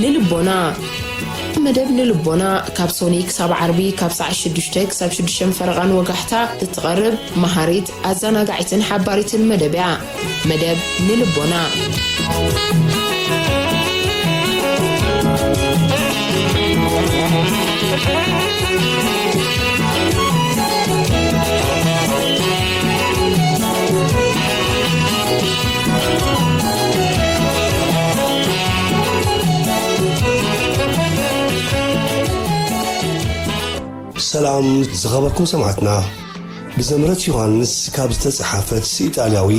ንልቦና መደብ ንልቦና ካብ ሶኒ ክሳብ ዓርቢ ካብ ሰዓ ሽዱሽተ ክሳብ ሽዱሽተ ፈረቓን ወጋሕታ እትቐርብ መሃሪት ኣዘናጋዒትን ሓባሪትን መደብ እያ መደብ ንልቦና። ሰላም ዝኸበርኩም ሰማዕትና። ብዘምረት ዮሃንስ ካብ ዝተጸሓፈት ኢጣልያዊ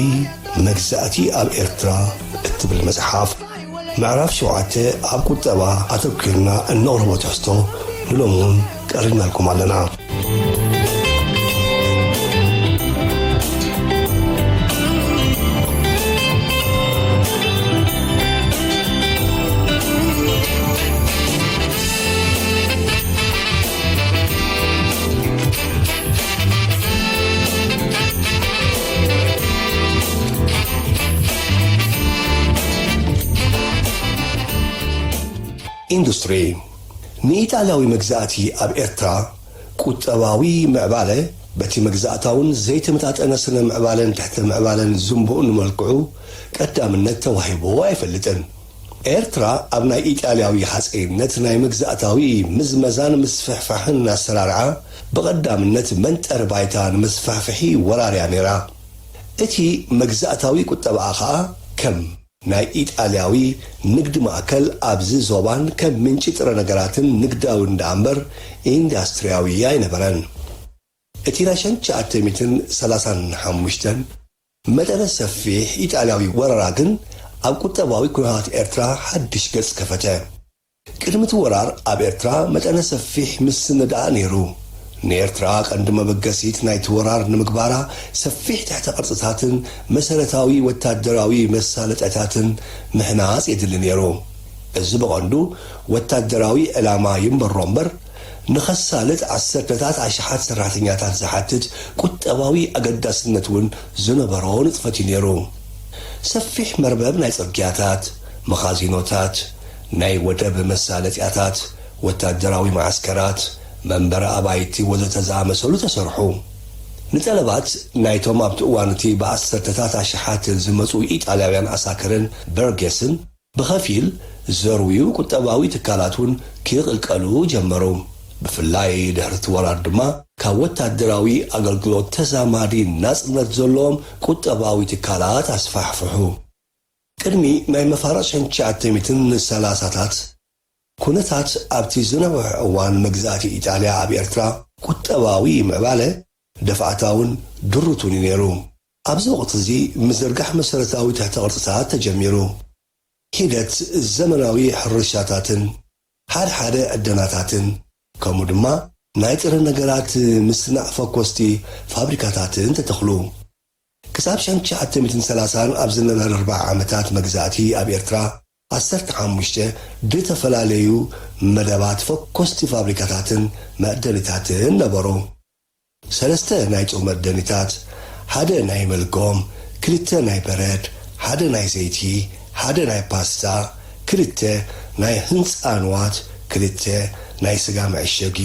መግዛእቲ ኣብ ኤርትራ እትብል መጽሓፍ ምዕራፍ ሸውዓተ ኣብ ቁጠባ ኣተኲርና እነቕርቦ ትሕዝቶ ንሎሚ እውን ቀሪብናልኩም ኣለና። ኢንዱስትሪ ንኢጣልያዊ መግዛእቲ ኣብ ኤርትራ ቁጠባዊ ምዕባለ በቲ መግዛእታውን ዘይተመጣጠነ ስነ ምዕባለን ትሕተ ምዕባለን ዝንቡእ ንመልክዑ ቀዳምነት ተዋሂብዎ ኣይፈልጥን። ኤርትራ ኣብ ናይ ኢጣልያዊ ሃጸይነት ናይ መግዛእታዊ ምዝመዛን ምስፍሕፋሕን ኣሰራርዓ ብቐዳምነት መንጠሪ ባይታ ንመስፋሕፍሒ ወራርያ ነይራ። እቲ መግዛእታዊ ቁጠባኣ ከኣ ከም። ናይ ኢጣልያዊ ንግድ ማእከል ኣብዚ ዞባን ከም ምንጪ ጥረ ነገራትን ንግዳዊን ደኣምበር ኢንዳስትርያዊ ኣይነበረን። እቲ ናይ ሸን ትሽዓተ ሚእትን ሰላሳን ሓሙሽተን። መጠነ ሰፊሕ ኢጣልያዊ ወረራ ግን ኣብ ቁጠባዊ ኩነታት ኤርትራ ሓድሽ ገጽ ከፈተ። ቅድሚ እቲ ወራር ኣብ ኤርትራ መጠነ ሰፊሕ ምስንዳእ ነይሩ። ንኤርትራ ቀንዲ መበገሲት ናይቲ ወራር ንምግባራ ሰፊሕ ትሕተ ቅርጽታትን መሰረታዊ ወታደራዊ መሳለጠያታትን ምህናጽ የድሊ ነይሩ። እዚ ብቐንዱ ወታደራዊ ዕላማ ይንበሮ እምበር፣ ንኸሳልጥ ዓሰርተታት ኣሽሓት ሰራሕተኛታት ዝሓትት ቁጠባዊ ኣገዳስነት እውን ዝነበሮ ንጥፈት እዩ ነይሩ። ሰፊሕ መርበብ ናይ ጽርግያታት፣ መኻዚኖታት፣ ናይ ወደብ መሳለጥያታት፣ ወታደራዊ መዓስከራት፣ መንበሪ ኣባይቲ ወዘተ ዝኣመሰሉ ተሰርሑ። ንጠለባት ናይቶም ኣብቲ እዋን እቲ ብኣሰርተታት ኣሽሓት ዝመጹ ኢጣልያውያን ዓሳክርን በርጌስን፣ ብኸፊል ዝዘርውዩ ቁጠባዊ ትካላት እውን ክቕልቀሉ ጀመሩ። ብፍላይ ድሕሪ እቲ ወራር ድማ ካብ ወታደራዊ ኣገልግሎት ተዛማዲ ናጽነት ዘለዎም ቁጠባዊ ትካላት ኣስፋሕፍሑ። ቅድሚ ናይ መፋርቕ ሸንሸዓተሚትን ሰላሳታት ኩነታት ኣብቲ ዝነውሐ እዋን መግዛእቲ ኢጣልያ ኣብ ኤርትራ ቁጠባዊ ምዕባለ ደፋእታውን ድሩቱን እዩ ነይሩ። ኣብዚ ወቕቲ'ዚ ምዝርጋሕ መሰረታዊ ትሕተ-ቅርጺታት ተጀሚሩ። ሒደት ዘመናዊ ሕርሻታትን ሓድሓደ ዕደናታትን ከምኡ ድማ ናይ ጥረ ነገራት ምስናዕ ፈኮስቲ ፋብሪካታትን ተተኽሉ። ክሳብ ሸም ትሽዓተ ሚእትን ሰላሳን ኣብ ዝነበረ ኣርብዓ ዓመታት መግዛእቲ ኣብ ኤርትራ ዓሰርተ ሓሙሽተ ድተፈላለዩ መደባት ፈኮስቲ ፋብሪካታትን መዕደኒታትን ነበሩ። ሰለስተ ናይ ጾመር ደኒታት፣ ሓደ ናይ መልጎም፣ ክልተ ናይ በረድ፣ ሓደ ናይ ዘይቲ፣ ሓደ ናይ ፓስታ፣ ክልተ ናይ ህንጻ ንዋት፣ ክልተ ናይ ስጋ መዐሸጊ፣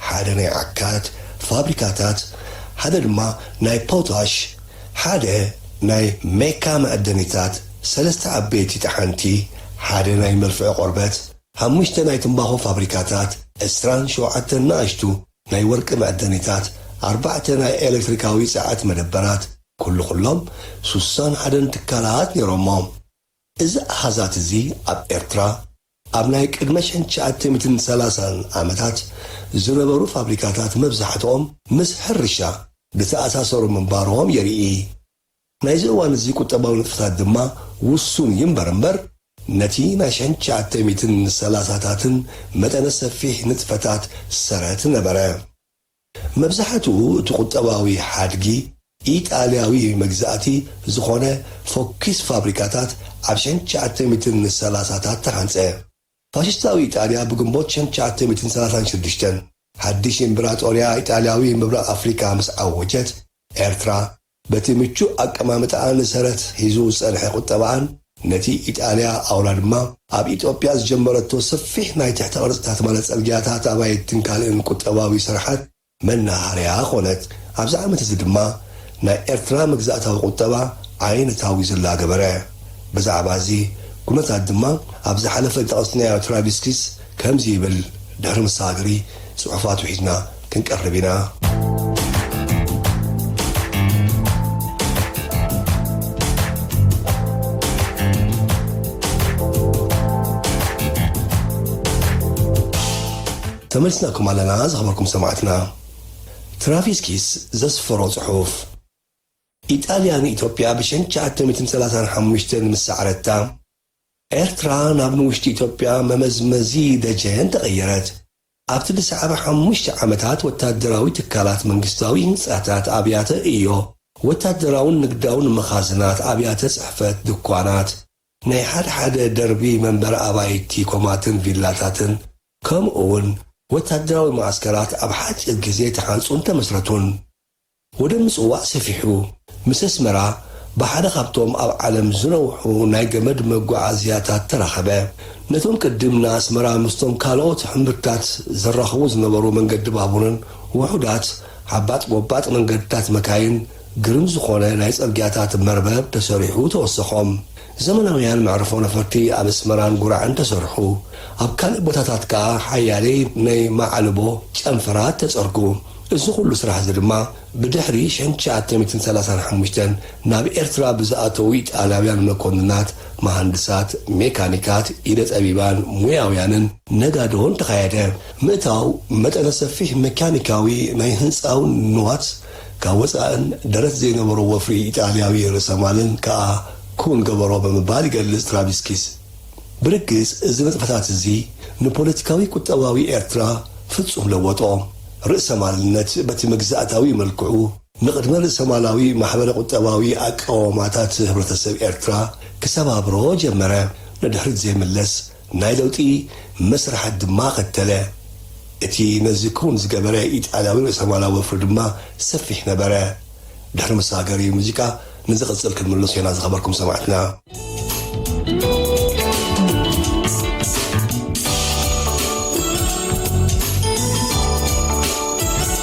ሓደ ናይ ዓካት፣ ፋብሪካታት፣ ሓደ ድማ ናይ ፖታሽ፣ ሓደ ናይ ሜካ መዐደኒታት፣ ሰለስተ ዓበይቲ ጠሓንቲ፣ ሓደ ናይ መልፍዒ ቆርበት፣ ሓሙሽተ ናይ ትምባኾ ፋብሪካታት፣ ዕስራን ሸውዓተን ናኣሽቱ ናይ ወርቂ መዕደኒታት፣ ኣርባዕተ ናይ ኤለክትሪካዊ ጸዐት መደበራት፣ ኩሉ ኩሎም ሱሳን ሓደን ትካላት ነይሮሞ። እዚ ኣሃዛት እዚ ኣብ ኤርትራ ኣብ ናይ ቅድመ ሸን ትሽዓተ ሚትን ሰላሳን ዓመታት ዝነበሩ ፋብሪካታት መብዛሕትኦም ምስ ሕርሻ ዝተኣሳሰሩ ምንባሮም የርኢ። ናይዚ እዋን'ዚ ቁጠባዊ ንጥፈታት ድማ ውሱን እዩ እምበር እምበር ነቲ ናይ ሸንሸዓተ ሚእትን ሰላሳታትን መጠነ ሰፊሕ ንጥፈታት ሰረት ነበረ። መብዛሕትኡ እቲ ቁጠባዊ ሓድጊ ኢጣልያዊ መግዛእቲ ዝኾነ ፎኪስ ፋብሪካታት ኣብ ሸንሸዓተ ሚእትን ሰላሳታት ተሃንጸ። ፋሽስታዊ ኢጣልያ ብግንቦት ሽሕን ትሽዓተ ሚእትን ሰላሳን ሽዱሽተን ሓድሽ ኢምብራጦርያ ኢጣልያዊ ምብራቕ ኣፍሪቃ ምስ ዓወጀት፣ ኤርትራ በቲ ምቹእ ኣቀማምጣኣን ሰረት ሒዙ ዝጸንሐ ቁጠባኣን ነቲ ኢጣልያ ኣውላ ድማ ኣብ ኢትዮጵያ ዝጀመረቶ ሰፊሕ ናይ ትሕተ ቅርጺታት ማለት ጽርግያታት፣ ኣባይትን ካልእን ቁጠባዊ ስርሓት መናሃርያ ኮነት። ኣብዚ ዓመት እዚ ድማ ናይ ኤርትራ መግዛእታዊ ቁጠባ ዓይነታዊ ዝላ ገበረ። ብዛዕባ እዚ ኩነታት ድማ ኣብ ዝሓለፈ ዝጠቐስናዮ ትራቪስኪስ ከምዚ ይብል ድሕሪ ምሰጋገሪ ጽሑፋቱ ሒዝና ክንቀርብ ኢና። ተመሊስናኩም ኣለና ዝኸበርኩም ሰማዕትና። ትራቪስ ኪስ ዘስፈሮ ጽሑፍ። ኢጣልያ ንኢትዮጵያ ብ ሸንሸዓተ ሚእትን ሰላሳን ሓሙሽተን ምስ ሰዓረታ፣ ኤርትራ ናብ ንውሽጢ ኢትዮጵያ መመዝመዚ ደጀን ተቐየረት። ኣብቲ ዝሰዓበ ሓሙሽተ ዓመታት ወታደራዊ ትካላት መንግስታዊ ህንጻታት ኣብያተ ዕዮ ወታደራውን ንግዳውን መኻዝናት ኣብያተ ጽሕፈት ድኳናት ናይ ሓድሓደ ደርቢ መንበሪ ኣባይቲ ኮማትን ቪላታትን ከምኡውን ወታደራዊ መዓስከራት ኣብ ሓጺር ግዜ ተሃንጹን ተመስረቱን። ወደብ ምጽዋዕ ሰፊሑ፣ ምስ ኣስመራ ብሓደ ካብቶም ኣብ ዓለም ዝነውሑ ናይ ገመድ መጓዓዝያታት ተራኸበ። ነቶም ቅድም ንኣስመራ ምስቶም ካልኦት ሕምብርትታት ዘራኽቡ ዝነበሩ መንገዲ ባቡርን ውሑዳት ዓባጥ ጎባጥ መንገድታት መካይን ግርም ዝኾነ ናይ ጽርግያታት መርበብ ተሰሪሑ ተወሰኾም። ዘመናውያን መዕርፎ ነፈርቲ ኣብ ኣስመራን ጉራዕን ተሰርሑ፣ ኣብ ካልእ ቦታታት ከኣ ሓያለይ ናይ መዓልቦ ጨንፈራት ተጸርጉ። እዚ ኩሉ ስራሕ'ዚ ድማ ብድሕሪ ሸን ትሽዓተ ሚእትን ሰላሳን ሓሙሽተን ናብ ኤርትራ ብዝኣተዉ ኢጣልያውያን መኮንናት፣ መሃንድሳት፣ ሜካኒካት፣ ኢደ ጠቢባን ሙያውያንን፣ ነጋዶን ተኻየደ። ምእታው መጠነ ሰፊሕ መካኒካዊ ናይ ህንጻውን ንዋት፣ ካብ ወጻእን ደረት ዘይነበሮ ወፍሪ ኢጣልያዊ ርእሰማልን ከኣ ክዉን ገበሮ ብምባል ይገልጽ ትራቪስኪስ። ብርግጽ እዚ ንጥፈታት እዚ ንፖለቲካዊ ቁጠባዊ ኤርትራ ፍጹም ለወጦ። ርእሰማልነት በቲ መግዛእታዊ መልክዑ ንቅድመ ርእሰማላዊ ማሕበረ ቁጠባዊ ኣቃውማታት ህብረተሰብ ኤርትራ ክሰባብሮ ጀመረ። ንድሕሪት ዘይምለስ ናይ ለውጢ መስርሓት ድማ ኸተለ። እቲ ነዚ ክዉን ዝገበረ ኢጣልያዊ ርእሰማላዊ ወፍሪ ድማ ሰፊሕ ነበረ። ድሕሪ መሰጋገሪ ሙዚቃ ንዝቕጽል ክንምለሶ ኢና ዝኸበርኩም ሰማዕትና።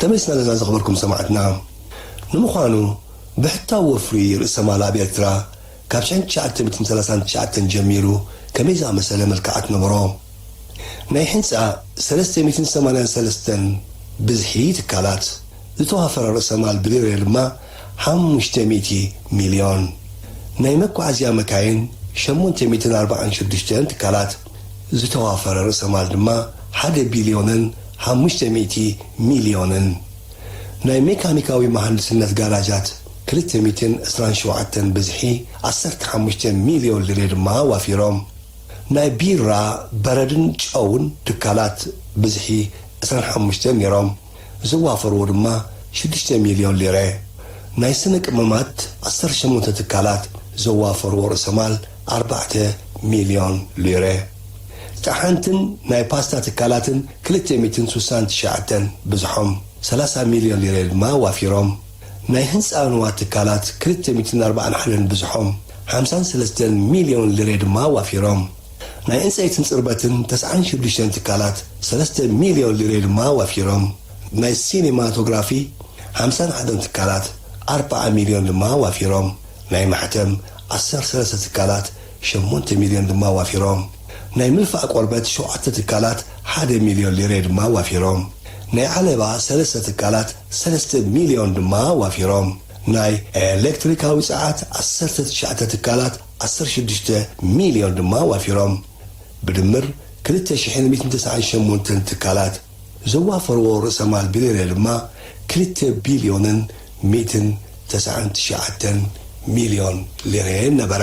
ከመይ ሰነበ ዝኸበርኩም ሰማዕትና ንምዃኑ ብሕታዊ ወፍሪ ርእሰ ማል ኣብ ኤርትራ ካብ ሽሕን ትሽዓተ ሚእትን ሰላሳን ትሽዓተን ጀሚሩ ከመይ ዝኣመሰለ መልክዓት ነበሮ? ናይ ሕንጻ ሰለስተ ሚእትን ሰማንያን ሰለስተን ብዝሒ ትካላት፣ ዝተዋፈረ ርእሰ ማል ብሊረ ድማ ሓሙሽተ ሚእቲ ሚልዮን፣ ናይ መጓዓዝያ መካይን ሸሞንተ ሚእትን ኣርብዓን ሽዱሽተን ትካላት፣ ዝተዋፈረ ርእሰ ማል ድማ ሓደ ቢልዮንን ሓሙሽተ ሚእቲ ሚልዮንን። ናይ ሜካኒካዊ መሃንድስነት ጋራጃት ክልተ ሚእትን ዕስራን ሸውዓተን ብዝሒ ዓሰርተ ሓሙሽተ ሚልዮን ልሬ ድማ ኣዋፊሮም። ናይ ቢራ፣ በረድን ጨውን ትካላት ብዝሒ ዕስራን ሓሙሽተን ነይሮም። ዝዋፈርዎ ድማ ሽዱሽተ ሚልዮን ሊረ፣ ናይ ስነ ቅመማት ዓሰርተ ሸሞንተ ትካላት ዘዋፈርዎ ርእሰ ማል ኣርባዕተ ሚልዮን ሊረ፣ ጠሓንትን ናይ ፓስታ ትካላትን ክልተ ሚእትን ስሳን ትሽዓተን ብዝሖም ሰላሳ ሚልዮን ሊረ ድማ ኣዋፊሮም። ናይ ህንጻ ንዋት ትካላት ክልተ ሚእትን ኣርባዓን ሓደን ብዝሖም ሓምሳን ሰለስተን ሚልዮን ሊረ ድማ ኣዋፊሮም። ናይ ዕንጸይትን ጽርበትን ተስዓን ሽዱሽተን ትካላት ሰለስተ ሚልዮን ሊሬ ድማ ወፊሮም። ናይ ሲኒማቶግራፊ ሓምሳን ሓደን ትካላት ኣርብዓ ሚልዮን ድማ ወፊሮም። ናይ ማሕተም ዓሰርተ ሰለስተ ትካላት ሸሞንተ ሚልዮን ድማ ወፊሮም። ናይ ምልፋዕ ቆርበት ሸውዓተ ትካላት ሓደ ሚልዮን ሊሬ ድማ ወፊሮም። ናይ ዓለባ ሰለስተ ትካላት ሰለስተ ሚልዮን ድማ ወፊሮም። ናይ ኤለክትሪካዊ ጸዓት ዓሰርተ ትሽዓተ ትካላት ዓሰርተ ሽዱሽተ ሚልዮን ድማ ዋፊሮም። ብድምር ክልተ ሽሕን ሚእትን ተስዓን ሸሞንተን ትካላት ዘዋፈርዎ ርእሰማል ብሬረ ድማ ክልተ ቢልዮንን ሚእትን ተስዓን ትሽዓተን ሚልዮን ሊረ ነበረ።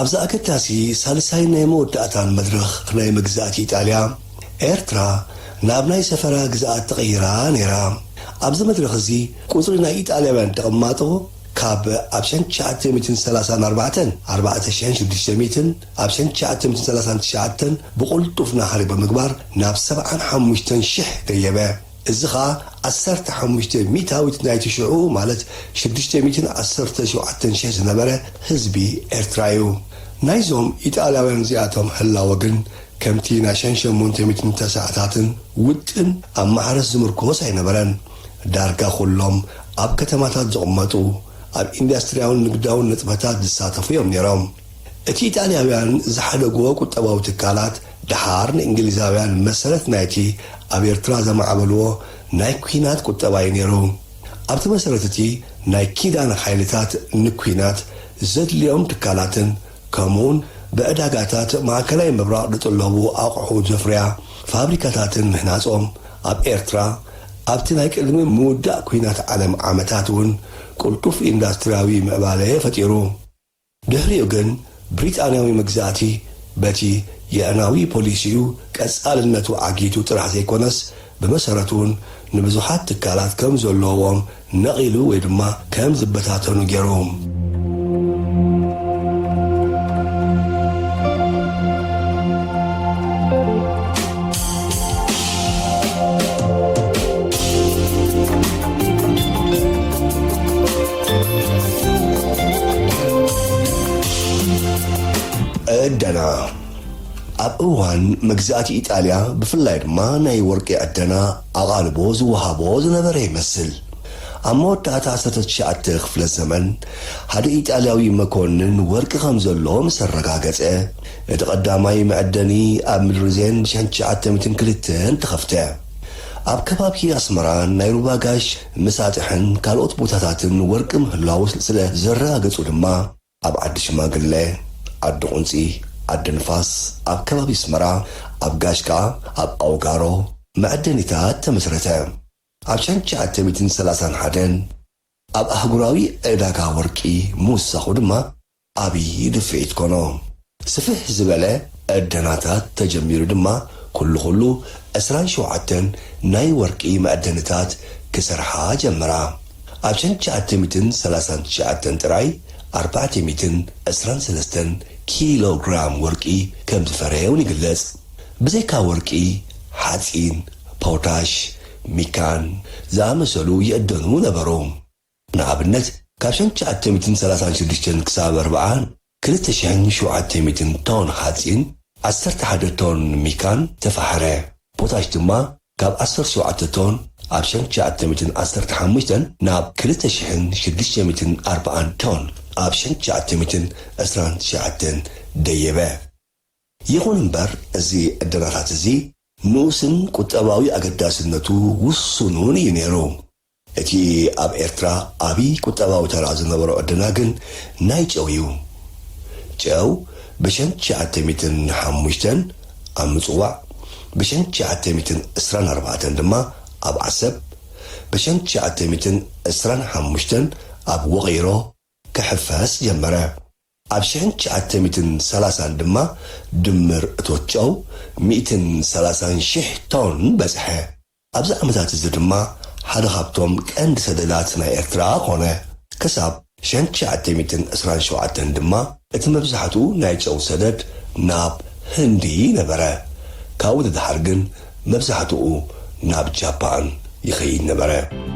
ኣብዚ ኣገዳሲ ሳልሳይን ናይ መወዳእታን መድረኽ ናይ መግዛእቲ ኢጣልያ፣ ኤርትራ ናብ ናይ ሰፈራ ግዝኣት ተቐይራ ነይራ። ኣብዚ መድረኽ እዚ ቁጽሪ ናይ ኢጣልያውያን ተቐማጦ ካብ ኣብ ሸን ትሽዓተ ሚእትን ሰላሳን ኣርባዕተን፣ ኣርባዕተ ሽሕን ሽዱሽተ ሚእትን፣ ኣብ ሸን ትሽዓተ ሚእትን ሰላሳን ትሽዓተን ብቕልጡፍ ናህሪ ብምግባር ናብ ሰብዓን ሓሙሽተን ሽሕ ደየበ። እዚ ኸኣ ዓሰርተ ሓሙሽተ ሚእታዊት ናይቲ ሽዑኡ ማለት ሽዱሽተ ሚእትን ዓሰርተ ሸውዓተን ሽሕ ዝነበረ ህዝቢ ኤርትራ'ዩ። ናይዞም ኢጣልያውያን'ዚኣቶም ህላወ ግን ከምቲ ናይ ሸን ሸሞንተ ሚእትን ተሰዓታትን ውጥን ኣብ ማሕረስ ዝምርኮስ ኣይነበረን። ዳርጋ ኩሎም ኣብ ከተማታት ዝቕመጡ፣ ኣብ ኢንዳስትርያውን ንግዳውን ንጥፈታት ዝሳተፉ'ዮም ነይሮም። እቲ ኢጣልያውያን ዝሓደግዎ ቁጠባዊ ትካላት ደሓር ንእንግሊዛውያን መሰረት ናይቲ ኣብ ኤርትራ ዘማዕበልዎ ናይ ኲናት ቁጠባ እዩ ነይሩ። ኣብቲ መሰረት እቲ ናይ ኪዳን ሓይልታት ንኲናት ዘድልዮም ትካላትን ከምኡውን ብዕዳጋታት ማእከላይ ምብራቕ ድጥለቡ ኣቑሑ ዘፍርያ ፋብሪካታትን ምህናጾም ኣብ ኤርትራ ኣብቲ ናይ ቅድሚ ምውዳእ ኲናት ዓለም ዓመታት እውን ቅልጡፍ ኢንዳስትርያዊ ምዕባለ ፈጢሩ። ድሕሪኡ ግን ብሪጣንያዊ መግዛእቲ በቲ የዕናዊ ፖሊሲኡ ቀጻልነቱ ዓጊቱ ጥራሕ ዘይኮነስ ብመሰረቱ'ውን ንብዙሓት ትካላት ከም ዘሎዎም ነቒሉ ወይ ድማ ከም ዝበታተኑ ገይሩ። ዕደና ኣብ እዋን መግዛእቲ ኢጣልያ ብፍላይ ድማ ናይ ወርቂ ዕደና ኣቓልቦ ዝወሃቦ ዝነበረ ይመስል። ኣብ መወዳእታ ዓሰርተ ትሽዓተ ክፍለ ዘመን፣ ሓደ ኢጣልያዊ መኮንን ወርቂ ከም ዘሎ ምስ ኣረጋገጸ፣ እቲ ቀዳማይ መዐደኒ ኣብ ምድሪ ዜን ብ ትሽዓተ ሚእትን ክልተን ተኸፍተ። ኣብ ከባቢ ኣስመራን ናይ ሩባ ጋሽ ምሳጥሕን ካልኦት ቦታታትን ወርቂ ምህላዉ ስለ ዘረጋገጹ ድማ፣ ኣብ ዓዲ ሽማግለ፣ ዓዲ ቁንጺ፣ ዓዲ ንፋስ፣ ኣብ ከባቢ ኣስመራ፣ ኣብ ጋሽ ከኣ ኣብ ኣውጋሮ መዐደኒታት ተመስረተ። ኣብ ሸን ትሽዓተ ሚእትን ሰላሳን ሓደን ኣብ ኣህጉራዊ ዕዳጋ ወርቂ ምውሳኹ ድማ፣ ዓብዪ ድፍኢት ኮኖ። ስፍሕ ዝበለ ዕደናታት ተጀሚሩ ድማ ኩሉ ኩሉ ዕስራን ሸውዓተን ናይ ወርቂ መዕደኒታት ክሰርሓ ጀመራ። ኣብ ሸንሸዓተ ሚእትን ሰላሳን ትሽዓተን ጥራይ ኣርባዕተ ሚእትን ዕስራን ሰለስተን ኪሎ ግራም ወርቂ ከም ዝፈረየ እውን ይግለጽ። ብዘይካ ወርቂ፣ ሓጺን፣ ፖታሽ፣ ሚካን ዝኣመሰሉ ይዕደኑ ነበሩ። ንኣብነት ካብ ሸንሸዓተ ሚእትን ሰላሳን ሽዱሽተን ክሳብ ኣርብዓን ክልተ ሽሕን ሸውዓተ ሚእትን ቶን ሓጺን፣ ዓሰርተ ሓደ ቶን ሚካን ተፋሕረ። ፖታሽ ድማ ካብ ዓሰርተ ሸውዓተ ቶን ኣብ ሸንሸዓተ ሚእትን ዓሰርተ ሓሙሽተን ናብ ክልተ ሽሕን ሽዱሽተ ሚእትን ኣርብዓን ቶን ኣብ ሸንሸዓተ ሚእትን ዕስራን ትሽዓተን ደየበ። ይኹን እምበር እዚ ዕደናታት እዚ ንኡስን ቁጠባዊ ኣገዳስነቱ ውሱኑን እዩ ነይሩ። እቲ ኣብ ኤርትራ ዓቢ ቁጠባዊ ተራ ዝነበሮ ዕድና ግን ናይ ጨው እዩ። ጨው ብሸን ትሽዓተ ሚእትን ሓሙሽተን ኣብ ምጽዋዕ፣ ብሸን ትሽዓተ ሚእትን ዕስራን ኣርባዕተን ድማ ኣብ ዓሰብ፣ ብሸን ትሽዓተ ሚእትን ዕስራን ሓሙሽተን ኣብ ውቕይሮ ክሕፈስ ጀመረ። ኣብ ሽሕን ትሽዓተ ሚእትን ሰላሳን ድማ ድምር እቶት ጨው ሚእትን ሰላሳን ሽሕ ቶን በጽሐ። ኣብዚ ዓመታት እዚ ድማ ሓደ ካብቶም ቀንዲ ሰደዳት ናይ ኤርትራ ኮነ። ክሳብ ሸን ትሽዓተ ሚእትን ዕስራን ሸውዓተን ድማ እቲ መብዛሕትኡ ናይ ጨው ሰደድ ናብ ህንዲ ነበረ። ካብኡ ንደሓር ግን መብዛሕትኡ ናብ ጃፓን ይኸይድ ነበረ።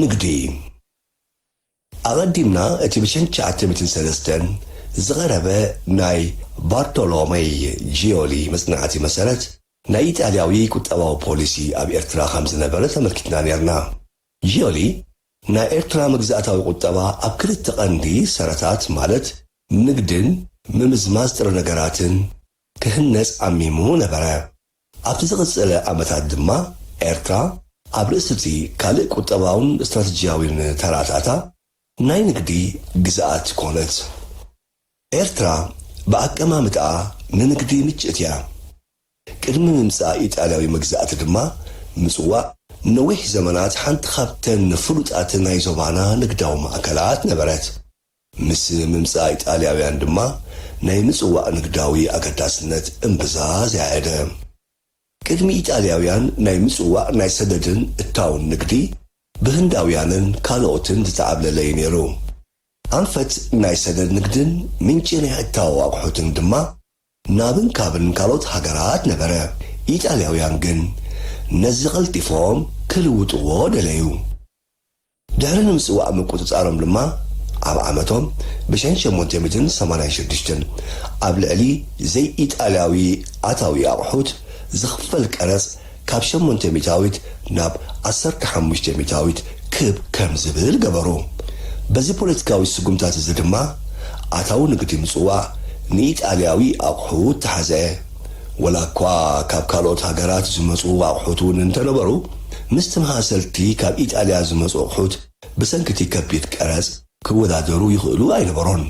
ንግዲ ኣቐዲምና እቲ ብ ትሽዓተ ሚእትን ሰለስተን ዝቐረበ ናይ ባርቶሎመይ ጂዮሊ መጽናዕቲ መሰረት ናይ ኢጣልያዊ ቁጠባዊ ፖሊሲ ኣብ ኤርትራ ከም ዝነበረ ተመልኪትና ኔርና። ጂዮሊ ናይ ኤርትራ መግዛእታዊ ቁጠባ ኣብ ክልተ ቀንዲ ሰረታት ማለት ንግድን ምምዝማዝ ጥረ ነገራትን ክህነጽ ዓሚሙ ነበረ። ኣብቲ ዝቐጸለ ዓመታት ድማ ኤርትራ ኣብ ርእሲ'ቲ ካልእ ቁጠባውን ስትራተጂያዊን ተራታታ ናይ ንግዲ ግዝኣት ኮነት። ኤርትራ ብኣቀማምጣኣ ንንግዲ ምችእቲ'ያ። ቅድሚ ምምጻእ ኢጣልያዊ መግዛእቲ ድማ ምጽዋዕ ንነዊሕ ዘመናት ሓንቲ ካብተን ፍሉጣት ናይ ዞባና ንግዳዊ ማእከላት ነበረት። ምስ ምምጻእ ኢጣልያውያን ድማ ናይ ምጽዋዕ ንግዳዊ ኣገዳስነት እምብዛ ዘያየደ። ቅድሚ ኢጣልያውያን ናይ ምጽዋዕ ናይ ሰደድን እታውን ንግዲ ብህንዳውያንን ካልኦትን ዝተዓብለለ እዩ ነይሩ። ኣንፈት ናይ ሰደድ ንግድን ምንጪ ናይ እታዎ ኣቑሑትን ድማ ናብን ካብን ካልኦት ሃገራት ነበረ። ኢጣልያውያን ግን ነዚ ቀልጢፎም ክልውጥዎ ደለዩ። ድሕሪ ንምጽዋዕ ምቁጽጻሮም ድማ ኣብ ዓመቶም ብሸን ሸሞንተ ሚእትን ሰማንያን ሸዱሽተን ኣብ ልዕሊ ዘይኢጣልያዊ ኣታዊ ኣቑሑት ዝኽፈል ቀረጽ ካብ ሸሞንተ ሚእታዊት ናብ ዓሰርተ ሓሙሽተ ሚእታዊት ክብ ከም ዝብል ገበሩ። በዚ ፖለቲካዊ ስጉምታት'ዚ ድማ ኣታዊ ንግዲ ምጽዋዕ ንኢጣልያዊ ኣቑሑት ተሓዘ። ወላኳ ካብ ካልኦት ሃገራት ዝመጹ ኣቑሑት እውን እንተነበሩ፣ ምስቲ መሃሰልቲ ካብ ኢጣልያ ዝመጹ ኣቑሑት ብሰንኪ'ቲ ከቢድ ቀረጽ ክወዳደሩ ይኽእሉ ኣይነበሩን።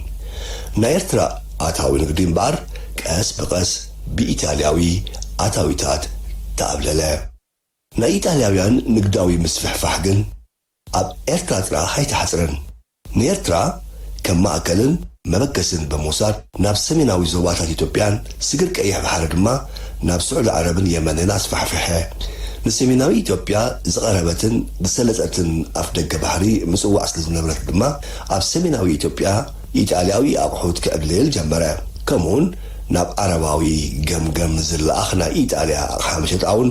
ናይ ኤርትራ ኣታዊ ንግዲ እምበኣር ቀስ ብቐስ ብኢጣልያዊ ኣታዊታት ተኣብለለ። ናይ ኢጣልያውያን ንግዳዊ ምስፍሕፋሕ ግን ኣብ ኤርትራ ጥራሕ ኣይተሓጽረን። ንኤርትራ ከም ማእከልን መበገስን ብምውሳድ ናብ ሰሜናዊ ዞባታት ኢትዮጵያን ስግር ቀይሕ ባሕሪ ድማ ናብ ስዑዲ ዓረብን የመንን ኣስፋሕፍሐ። ንሰሜናዊ ኢትዮጵያ ዝቐረበትን ዝሰለጠትን ኣፍደገ ባሕሪ ምጽዋዕ ስለ ዝነበረት ድማ ኣብ ሰሜናዊ ኢትዮጵያ ኢጣልያዊ ኣቑሑት ክዕብልል ጀመረ። ከምኡውን ናብ ዓረባዊ ገምገም ዝለኣኽ ናይ ኢጣልያ ኣቕሓ መሸጣውን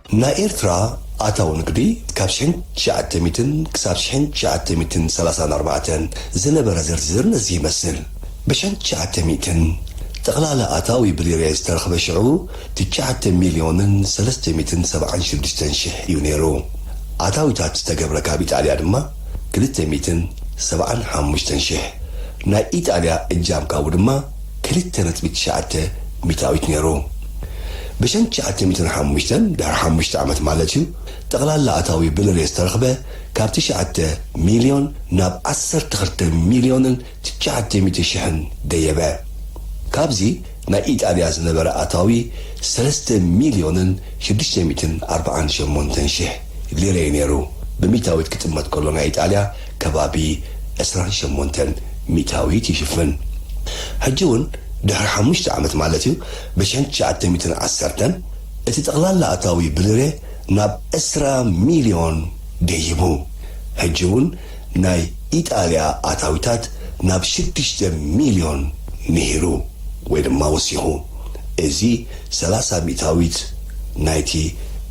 ናይ ኤርትራ ኣታዊ ንግዲ ካብ ሽሕን ትሽዓተ ሚእትን ክሳብ ሽሕን ትሽዓተ ሚእትን ሰላሳን ኣርባዕተን ዝነበረ ዝርዝር እዚ ይመስል። ብሽሕን ትሽዓተ ሚእትን፣ ጠቕላላ ኣታዊ ብሊሬ ዝተረኽበ ሽዑ ትሽዓተ ሚልዮንን ሰለስተ ሚእትን ሰብዓን ሽዱሽተን ሽሕ እዩ ነይሩ። ኣታዊታት ዝተገብረ ካብ ኢጣልያ ድማ ክልተ ሚእትን ሰብዓን ሓሙሽተን ሽሕ፣ ናይ ኢጣልያ እጃም ካብኡ ድማ፣ ክልተ ነጥቢ ትሽዓተ ሚታዊት ነይሩ። ብሰንት ትሽዓተ ሚእትን ሓሙሽተን፣ ድሕሪ ሓሙሽተ ዓመት ማለት'ዩ፣ ጠቕላላ ኣታዊ ብንሬ ዝተረኽበ ካብ ትሽዓተ ሚልዮን ናብ ዓሰርተ ክልተ ሚልዮንን ትሽዓተ ሚእቲ ሽሕን ደየበ። ካብዚ ናይ ኢጣልያ ዝነበረ ኣታዊ ሰለስተ ሚልዮንን ሽዱሽተ ሚእትን ኣርብዓን ሸሞንተን ሽሕ ሊረ'ዩ ነይሩ፣ ብሚታዊት ክጥመት ከሎ ናይ ኢጣልያ ከባቢ ዕስራን ሸሞንተን ሚእታዊት ይሽፍን። ሕጂ እውን ድሕሪ ሓሙሽተ ዓመት ማለት እዩ ብሽሕን ትሽዓተ ሚእትን ዓሰርተን እቲ ጠቕላላ ኣታዊ ብልሬ ናብ ዕስራ ሚልዮን ደይቡ። ሕጂ እውን ናይ ኢጣልያ ኣታዊታት ናብ ሽዱሽተ ሚልዮን ንሂሩ ወይ ድማ ወሲኹ። እዚ ሰላሳ ሚእታዊት ናይቲ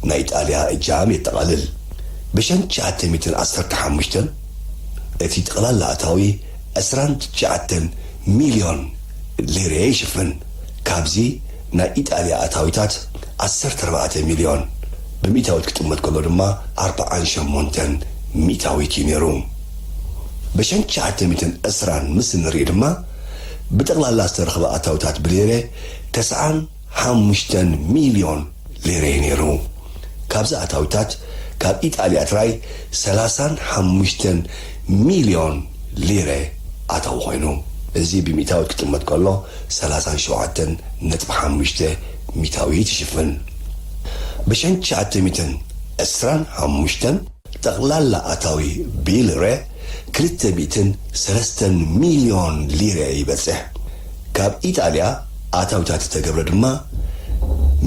ናይ ኢጣልያ እጃም የጠቓልል። ብሸን ትሽዓተ ሚትን ዓሰርተ ሓሙሽተን እቲ ጠቕላላ ኣታዊ ዕስራን ትሽዓተን ሚልዮን ሊሬ ይሽፍን። ካብዚ ናይ ኢጣልያ ኣታዊታት ዓሰርተ ኣርባዕተ ሚልዮን ብሚእታዊት ክጥመት ከሎ ድማ ኣርብዓን ሸሞንተን ሚእታዊት እዩ ነይሩ። ብሸን ትሽዓተ ሚትን ዕስራን ምስ እንርኢ ድማ ብጠቕላላ ዝተረኽበ ኣታዊታት ብሊሬ ተስዓን፣ ሓሙሽተ ሚልዮን ሊሬ ነይሩ። ካብዚ ኣታዊታት ካብ ኢጣልያ ጥራይ ሰላሳን ሓሙሽተን ሚልዮን ሊሬ ኣታዊ ኮይኑ። እዚ ብሚእታዊት ክጥመት ከሎ ሰላሳን ሸውዓተን ነጥቢ ሓሙሽተ ሚታዊት ይሽፍን። ብሽሕን ትሽዓተ ሚእትን ዕስራን ሓሙሽተን ጠቕላላ ኣታዊ ብይልሬ ክልተ ሚእትን ሰለስተን ሚልዮን ሊሬ ይበጽሕ። ካብ ኢጣልያ ኣታዊታት ዝተገብረ ድማ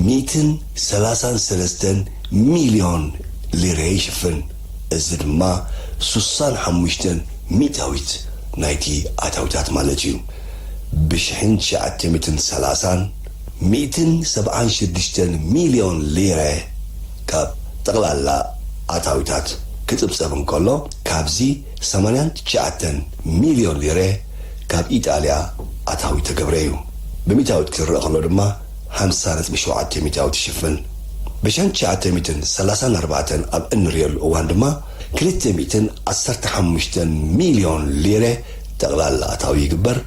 ሚእትን ሰላሳን ሰለስተን ሚልዮን ሊሬ ይሽፍን፣ እዚ ድማ ሱሳን ሓሙሽተን ሚእታዊት ናይቲ ኣታዊታት ማለት እዩ። ብሽሕን ትሽዓተ ሚእትን ሰላሳን ሚእትን ሰብዓን ሽዱሽተን ሚልዮን ሊሬ ካብ ጠቕላላ ኣታዊታት ክጽብጸብ እንከሎ፣ ካብዚ ሰማንያን ትሽዓተን ሚልዮን ሊሬ፣ ካብ ኢጣልያ ኣታዊ እተገብረ እዩ። ብሚታዊት ክትረእ ከሎ ድማ ሓምሳ ነጥቢ ሸውዓተ ሚታዊት ይሽፍን። ብሸን ትሽዓተ ሚእትን ሰላሳን ኣርባዕተን ኣብ እንርእየሉ እዋን ድማ ክልተ ሚእትን ዓሰርተ ሓሙሽተን ሚልዮን ሊረ ጠቕላላ ኣታዊ ይግበር።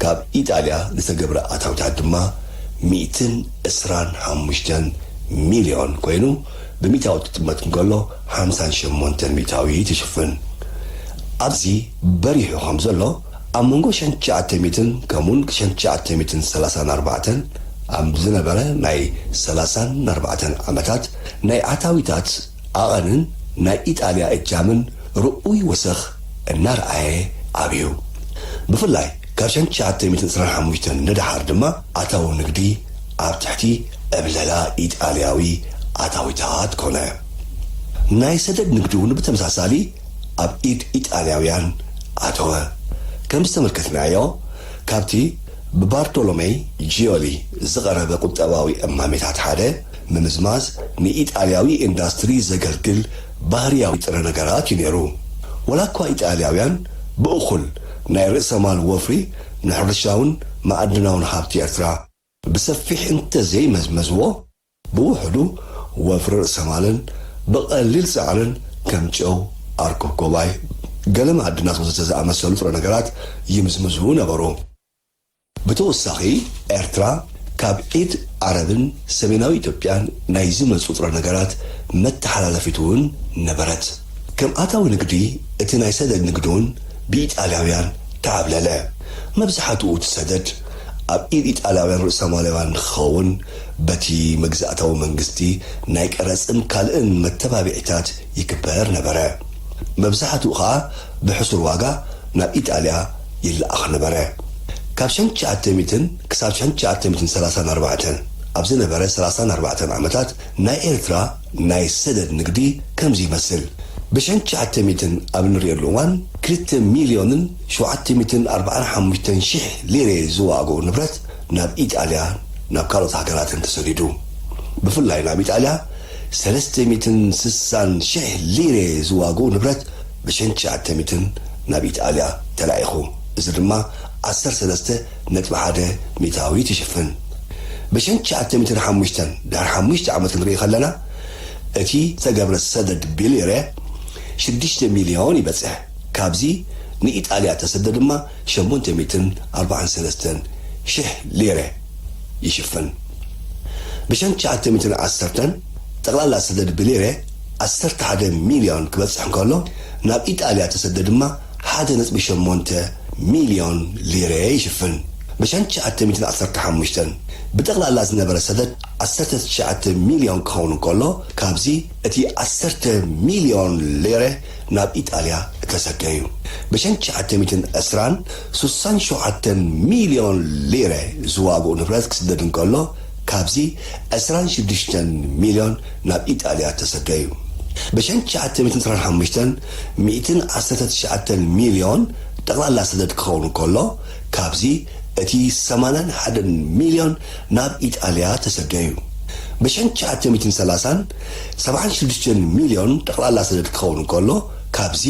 ካብ ኢጣልያ ዝተገብረ ኣታዊታት ድማ ሚእትን ዕስራን ሓሙሽተን ሚልዮን ኮይኑ ብሚታዊት ክጥመት እንከሎ ሓምሳን ሸሞንተን ሚታዊት ይሽፍን። ኣብዚ። በሪሑ ከም ዘሎ ኣብ መንጎ ሽሕን ትሽዓተ ሚእትን ከምኡውን ሽሕን ትሽዓተ ሚእትን ሰላሳን ኣርባዕተን ኣብ ዝነበረ ናይ ሰላሳን ኣርባዕተን ዓመታት ናይ ኣታዊታት ዓቐንን ናይ ኢጣልያ እጃምን ርኡይ ወሰኽ እናርኣየ ዓብዩ። ብፍላይ ካብ ሽሕን ትሽዓተ ሚእትን ዕስራን ሓሙሽተን ንደሓር ድማ ኣታዊ ንግዲ ኣብ ትሕቲ ዕብለላ ኢጣልያዊ ኣታዊታት ኮነ። ናይ ሰደድ ንግዲ እውን ብተመሳሳሊ ኣብ ኢድ ኢጣልያውያን ኣተወ። ከም ዝተመልከትናዮ ካብቲ ብባርቶሎመይ ጂዮሊ ዝቐረበ ቁጠባዊ እማሜታት ሓደ፣ ምምዝማዝ ንኢጣልያዊ ኢንዳስትሪ ዘገልግል ባህርያዊ ጥረ ነገራት እዩ ነይሩ። ወላኳ ኢጣልያውያን ብእኹል ናይ ርእሰ ማል ወፍሪ ንሕርሻውን መኣድናውን ሃብቲ ኤርትራ ብሰፊሕ እንተዘይመዝመዝዎ፣ ብውሑዱ ወፍሪ ርእሰማልን ብቐሊል ጸዕርን ከም ጨው፣ ኣርኮኮባይ፣ ገለ መኣዲ ናስ ወዘተ ዝኣመሰሉ ጥረ ነገራት ይምዝምዙ ነበሩ። ብተወሳኺ ኤርትራ ካብ ኢድ ዓረብን ሰሜናዊ ኢትዮጵያን ናይ ዝመጹ ጥረ ነገራት መተሓላለፊት'ውን ነበረት። ከም ኣታዊ ንግዲ እቲ ናይ ሰደድ ንግዲ'ውን ብኢጣልያውያን ተዓብለለ። መብዝሓትኡ እቲ ሰደድ ኣብ ኢድ ኢጣልያውያን ርእሰማላውያን ንክኸውን በቲ መግዛእታዊ መንግስቲ ናይ ቀረጽን ካልእን መተባብዒታት ይግበር ነበረ። መብዛሕትኡ ከኣ ብሕሱር ዋጋ ናብ ኢጣልያ ይለኣኽ ነበረ። ካብ ሸን ትሽዓተ ሚእትን ክሳብ ሸን ትሽዓተ ሚእትን ሰላሳን ኣርባዕተን ኣብ ዝነበረ ሰላሳን ኣርባዕተን ዓመታት ናይ ኤርትራ ናይ ሰደድ ንግዲ ከምዚ ይመስል። ብሸን ትሽዓተ ሚእትን ኣብ እንርእየሉ እዋን ክልተ ሚልዮንን ሸውዓተ ሚእትን ኣርብዓን ሓሙሽተን ሽሕ ሊሬ ዝዋእጎ ንብረት ናብ ኢጣልያ ናብ ካልኦት ሃገራትን ተሰዲዱ። ብፍላይ ናብ ኢጣልያ ሰለስተ ሚእትን ስሳን ሽሕ ሊሬ ዝዋግኡ ንብረት ብሸን ትሽዓተ ሚእትን ናብ ኢጣልያ ተላኢኹ እዚ ድማ ዓሰርተ ሰለስተ ነጥቢ ሓደ ሚእታዊት ይሽፍን። ብሸን ትሽዓተ ሚእትን ሓሙሽተን ድሕሪ ሓሙሽተ ዓመት ክንርኢ ከለና እቲ ዝተገብረ ሰደድ ብሊሬ ሽዱሽተ ሚልዮን ይበጽሕ። ካብዚ ንኢጣልያ ተሰደ ድማ ሸሞንተ ሚእትን ኣርባዓን ሰለስተን ሽሕ ሊረ ይሽፍን። ብሸን ትሽዓተ ሚእትን ዓሰርተን ጠቕላላ ሰደድ ብሊረ ዓሰርተ ሓደ ሚልዮን ክበጽሕ እንከሎ፣ ናብ ኢጣልያ ተሰደ ድማ ሓደ ነጥቢ ሸሞንተ ሚልዮን ሊረ ይሽፍን። ብሸን ትሽዓተ ሚእትን ዓሰርተ ሓሙሽተን ብጠቕላላ ዝነበረ ሰደድ ዓሰርተ ትሽዓተ ሚልዮን ክኸውን እንከሎ፣ ካብዚ እቲ ዓሰርተ ሚልዮን ሊረ፣ ናብ ኢጣልያ እተሰደ እዩ። ብሸን ትሽዓተ ሚእትን ዕስራን ስሳን ሸውዓተን ሚልዮን ሊረ ዝዋግኡ ንብረት ክስደድ እንከሎ፣ ካብዚ ዕስራን ሽዱሽተን ሚልዮን ናብ ኢጣልያ እተሰደ እዩ። ብሸን ትሽዓተ ሚእትን ዕስራን ሓሙሽተን ሚእትን ዓሰርተ ትሽዓተን ሚልዮን ጠቕላላ ሰደድ ክኸውን እንከሎ፣ ካብዚ እቲ ሰማንያን ሓደን ሚልዮን ናብ ኢጣልያ እተሰደ እዩ። ብሸን ትሽዓተ ሚእትን ሰላሳን ሰብዓን ሽዱሽተን ሚልዮን ጠቕላላ ሰደድ ክኸውን እንከሎ፣ ካብዚ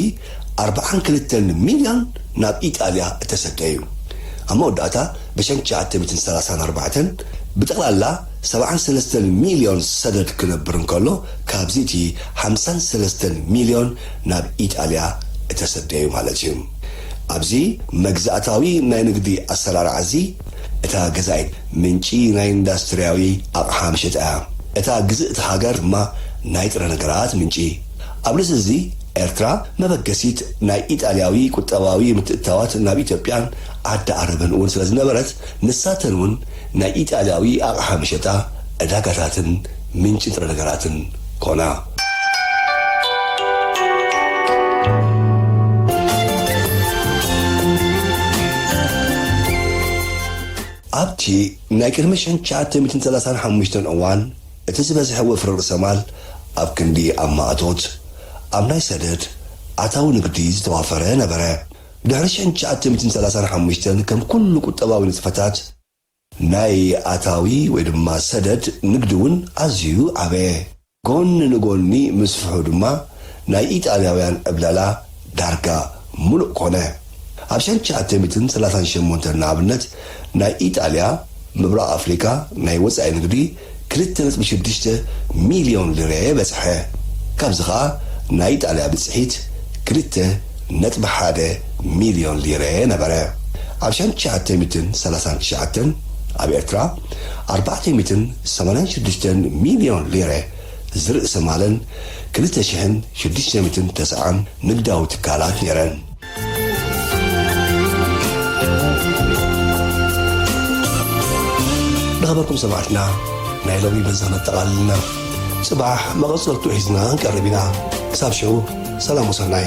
ኣርብዓን ክልተን ሚልዮን ናብ ኢጣልያ እተሰደ እዩ። ኣብ መወዳእታ ብሸን ትሽዓተ ሚእትን ሰላሳን ኣርባዕተን ብጠቕላላ ሰብዓን ሰለስተን ሚልዮን ሰደድ ክነብር እንከሎ፣ ካብዚ እቲ ሓምሳን ሰለስተን ሚልዮን ናብ ኢጣልያ እተሰደ እዩ ማለት እዩ። ኣብዚ መግዛእታዊ ናይ ንግዲ ኣሰራርዓዚ፣ እታ ገዛኢት ምንጪ ናይ ኢንዳስትርያዊ ኣቕሓ መሸጣ እያ። እታ ግዝእቲ ሃገር ድማ ናይ ጥረ ነገራት ምንጪ። ኣብ ልዕሊ እዚ ኤርትራ መበገሲት ናይ ኢጣልያዊ ቁጠባዊ ምትእትታዋት ናብ ኢትዮጵያን ዓዲ ዓረብን እውን ስለዝነበረት ንሳተን እውን ናይ ኢጣልያዊ ኣቕሓ መሸጣ ዕዳጋታትን ምንጪ ንጥረ ነገራትን ኮና። ኣብቲ ናይ ቅድሚ ሸን ትሽዓተ ሚእትን ሰላሳን ሓሙሽተን እዋን እቲ ዝበዝሐ ወፍሪ ርእሰ ማል ኣብ ክንዲ ኣብ ማእቶት ኣብ ናይ ሰደድ ኣታዊ ንግዲ ዝተዋፈረ ነበረ። ድሕሪ ሸን ትሽዓተ ሚእትን ሰላሳን ሓሙሽተን ከም ኩሉ ቁጠባዊ ንጥፈታት፣ ናይ ኣታዊ ወይ ድማ ሰደድ ንግዲ እውን ኣዝዩ ዓበየ። ጎኒ ንጎኒ ምስፍሑ ድማ ናይ ኢጣልያውያን ዕብለላ ዳርጋ ምሉእ ኮነ። ኣብ ሸንሸዓተ ሚእትን ሰላሳን ሸሞንተን ንኣብነት ናይ ኢጣልያ ምብራቕ ኣፍሪቃ ናይ ወጻኢ ንግዲ ክልተ ነጥቢ ሽዱሽተ ሚልዮን ልረ በጽሐ። ካብዚ ከኣ ናይ ኢጣልያ ብጽሒት ክልተ ነጥቢ ሓደ ሚልዮን ሊረ ነበረ። ኣብ ሻን ትሽዓተ ሚትን ሰላሳን ትሽዓተን ኣብ ኤርትራ ኣርባዕተ ሚትን ሰማንያን ሽዱሽተን ሚልዮን ሊረ ዝርእሰ ማለን ክልተ ሽሕን ሽዱሽተ ሚትን ተሰዓን ንግዳዊ ትካላት ነይረን። ንክበኩም ሰማዕትና ናይ ሎሚ በዛ ነጠቓልልና ጽባሕ መቐጸልቱ ሒዝና ክንቀርብ ኢና ክሳብ ሽዑ ሰላም ወሰናይ